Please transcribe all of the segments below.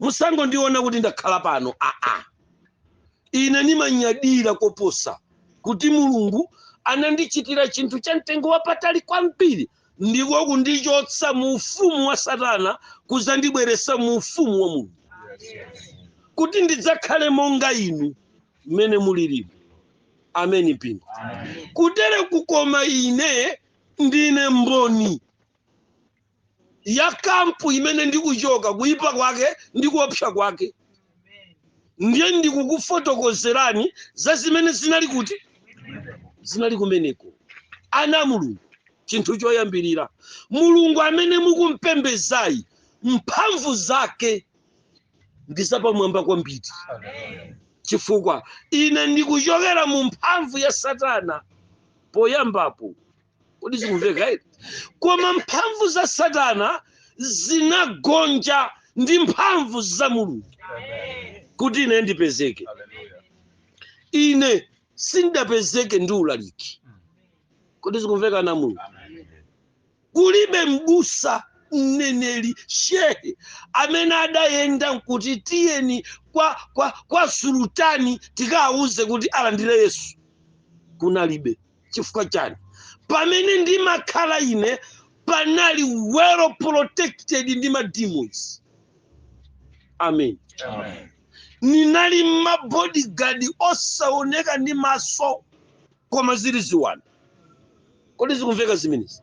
musangondiona kuti ndakhala pano aa ine nimanyadira koposa kuti mulungu anandichitira chinthu cha mtengo wapatali kwambiri ndiko kundichotsa mu ufumu wa satana kudzandibweretsa mu ufumu wa mulungu kuti ndidzakhale monga inu mmene mulilimu ameni mpingo kutere kukoma ine ndine mboni ya kampu imene ndikuchoka kuyipa kwake ndi kuopsa kwake ndiye ndikukufotokozerani za zimene zinali kuti zinali kumeneko ana a mulungu chinthu choyambirira mulungu amene mukumpembedzayi mphamvu zake ndi zapamwamba kwambiri chifukwa ine ndikuchokera mu mphamvu ya satana poyambapo kodi zikumveka eti koma mphamvu za satana zinagonja ndi mphamvu za mulungu kuti ine ndipezeke ine sindapezeke ndi ulaliki kodi zikumveka ana a mulungu kulibe mbusa mneneri shehe amene adayenda nkuti tiyeni kwa, kwa, kwa sultani tikawauze kuti alandire yesu kunalibe chifukwa chani pamene ndimakhala ine panali well protected ndi ma demons amen ninali mabodyguard osaoneka ndi maso koma zili ziwanda kodi zikumveka zimenezi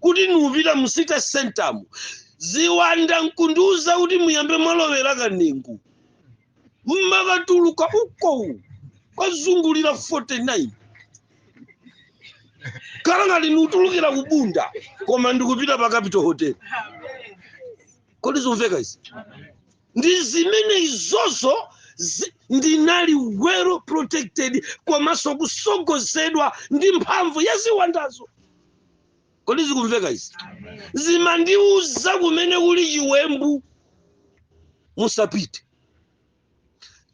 kuti niupita mu city center mmu ziwanda nkundiuza kuti muyambe mwalowera kanengo mmakatuluka ukowu kwazungulira 49 kukhala ngati nikutulukira kubunda koma ndikupita pa capital hotel kodi zomveka izi ndi zimene izozo zi- ndinali well protected komanso kutsogozedwa ndi mphamvu ya ziwandazo kodi zikumveka izi zimandiuza kumene kuli chiwembu musapite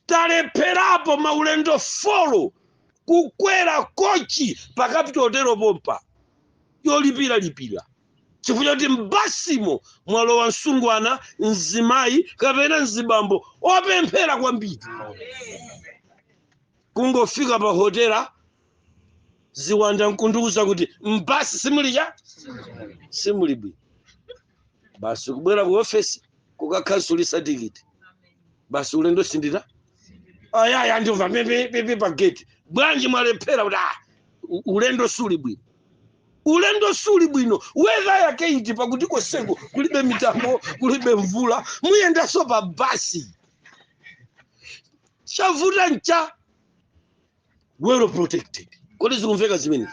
talepherapo maulendo folo kukwera kochi pa capital hotel pompa yolipira lipira chifukwa choti mbasimo mwalowa msungwana mzimayi kapena mzibambo opemphera kwambiri kungofika pa hotela ziwanda nkundiuza kuti m'basi simuli cha simuli bwino basi kubwera ku ofesi kukakhansulisa tikiti basi ulendo sindita ayaya ndimva pipi pa gate bwanji mwalephera kuti ah, u- ulendo suli bwino ulendo suli bwino wedha yake iti pakuti koseko kulibe mitambo kulibe mvula muyendaso pa basi chavuta ncha well protected kodi zikumveka zimene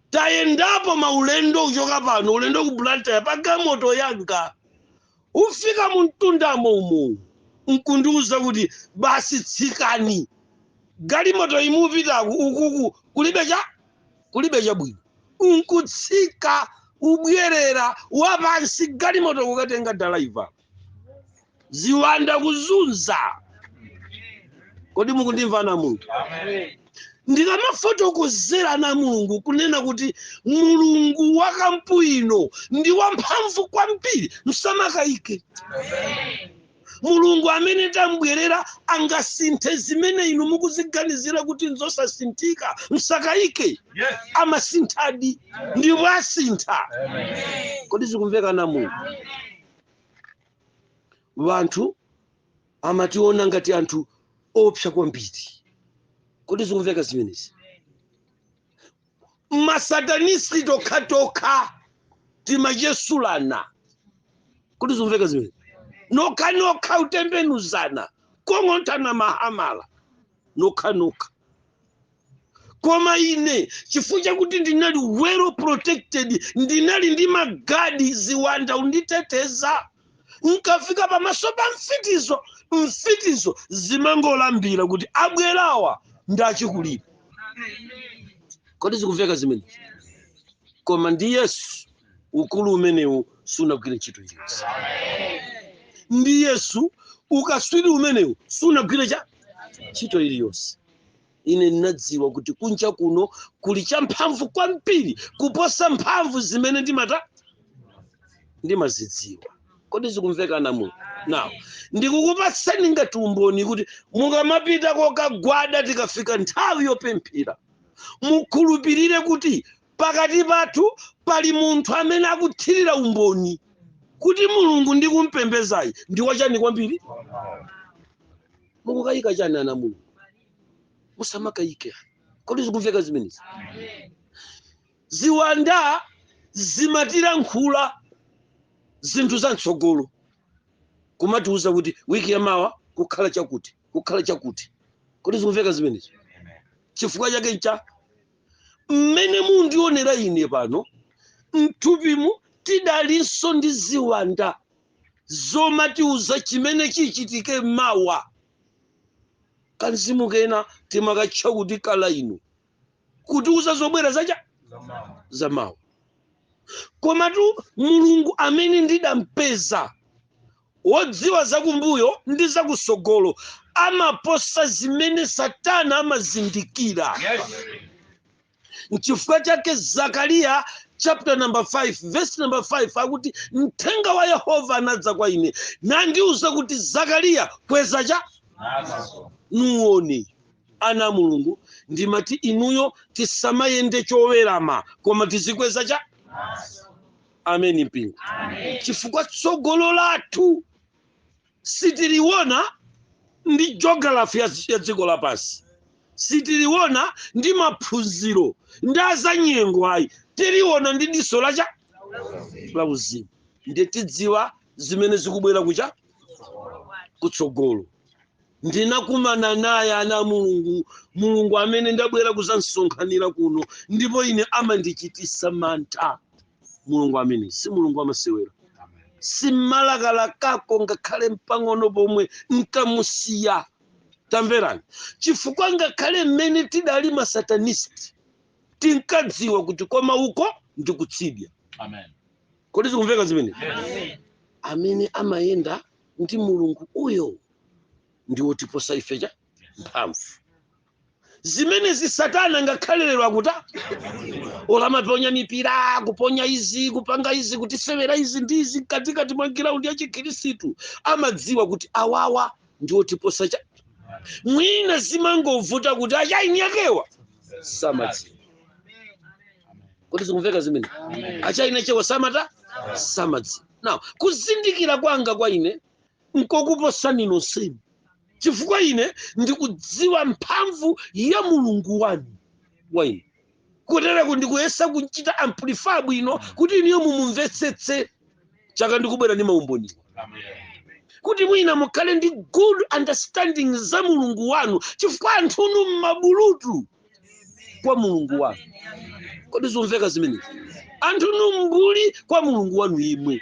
tayendapo maulendo kuchoka pano ulendo ku blantyre pa galimoto yanga ufika mu mtundamo umo nkundiuza kuti basi tsikani galimoto imupita ukuku kulibe cha kulibe chabwino nkutsika ubwerera wapansi galimoto kukatenga dalaiva ziwanda kuzunza kodi mukundimva ana a mulungu ndikamafotokozera ana a mulungu kunena kuti mulungu wa kampu ino ndi wamphamvu kwambiri msamakayike mulungu amene tambwerera angasinthe zimene inu mukuziganizira kuti nzosasinthika msakayike Yes. amasinthadi ndipo asintha kodi zikumveka ana a mulungu wanthu amationa ngati anthu oopsa kwambiri kodi zikumveka zimenezi masatanisti tokhatokha timachesulana kodi zikumveka zimenezi nokhanokha utembenuzana kugong'onthana mahamala nokhanokha koma ine chifukwa chakuti ndinali well protected ndinali ndi magadi ziwanda unditeteza nkafika pamaso pa mfitizo mfitizo zimangolambira kuti abwerawa ndi achikulire kodi zikumveka zimene koma ndi yesu ukulu umenewu sunagwire ntchito iliyonse ndi yesu ukaswiri umenewu sunagwire cha ntchito iliyonse ine ndinadziwa kuti kunja kuno kuli champhamvu kwambiri kuposa mphamvu zimene ndimata ndimazidziwa kodi zikumveka ana a mu now ndikukupatsani ngati umboni kuti mukamapita kokagwada tikafika nthawi yopemphera mukhulupirire kuti pakati pathu pali munthu amene akuthirira umboni kuti mulungu ndikumpembezayi ndi wachani kwambiri mukukayika chani ana mulungu musamakayike kodi zikumveka zimenezi ziwanda zimatilankhula zinthu za mtsogolo kumatiuza kuti wiki yamawa kukhala chakuti kukhala chakuti kodi zikumveka zimenezi chifukwa chake ncha mmene mundionera ine pano mthupimu tidalinso ndi ziwanda zomatiuza chimene chichitike mawa kamzimu kena timakatcha kuti kalainu kutiuza zobwera zacha za mawa komatu mulungu amene ndidampeza wodziwa zakumbuyo ndi zakutsogolo amaposa zimene satana amazindikira Yes. nchifukwa chake zakariya chapter number 5 verse number 5 akuti mthenga wa yehova anadza kwa ine nandiuza kuti zakariya kweza cha nuwone ana a mulungu ndimati inuyo tisamayende chowerama koma tizikweza cha amen mpingo chifukwa tsogolo lathu sitiliona ndi geography ya dziko lapansi sitiliona ndi maphunziro ndi azanyengo ayi tiliona ndi diso lacha la uzimu ndiye tidziwa zimene zikubwera kucha kutsogolo ndinakumana naye ana mulungu mulungu amene ndabwera kuzamusonkhanira kuno ndipo ine amandichitisa mantha mulungu amene si mulungu wamasewera simalakalakako ngakhale mpang'ono pomwe nkamusiya tamverani chifukwa ngakhale mmene tidali masatanisti tinkadziwa kuti koma uko ndi kutsidya Amen. kodi zikumveka zimene Yes. amene amayenda ndi mulungu uyo ndi wotiposa ife cha mphamvu zimenezi satana ngakhale lero akuthawa olo amaponya mipira kuponya izi kupanga izi kutisewera izi ndi izi mkatikati mwa ground ya chikhristu amadziwa kuti awawa ndi otiposa cha mwina zimangovuta kuti achai niakewa samadziwa kodi zikumveka zimene achai niakewa samata samadziwa now kuzindikira kwanga kwa ine nkokuposani nonsenu chifukwa ine ndikudziwa mphamvu ya mulungu wanu wa ine kutereko ndikuyesa kuchita amplify bwino kuti inuyo mumumvetsetse chaka ndikubwera ndi maumboni kuti mwina mukhale ndi good understanding za mulungu wanu chifukwa anthunu mmabulutu kwa mulungu wanu kodi zomveka zimenezi anthunu mmbuli kwa mulungu wanu yemwe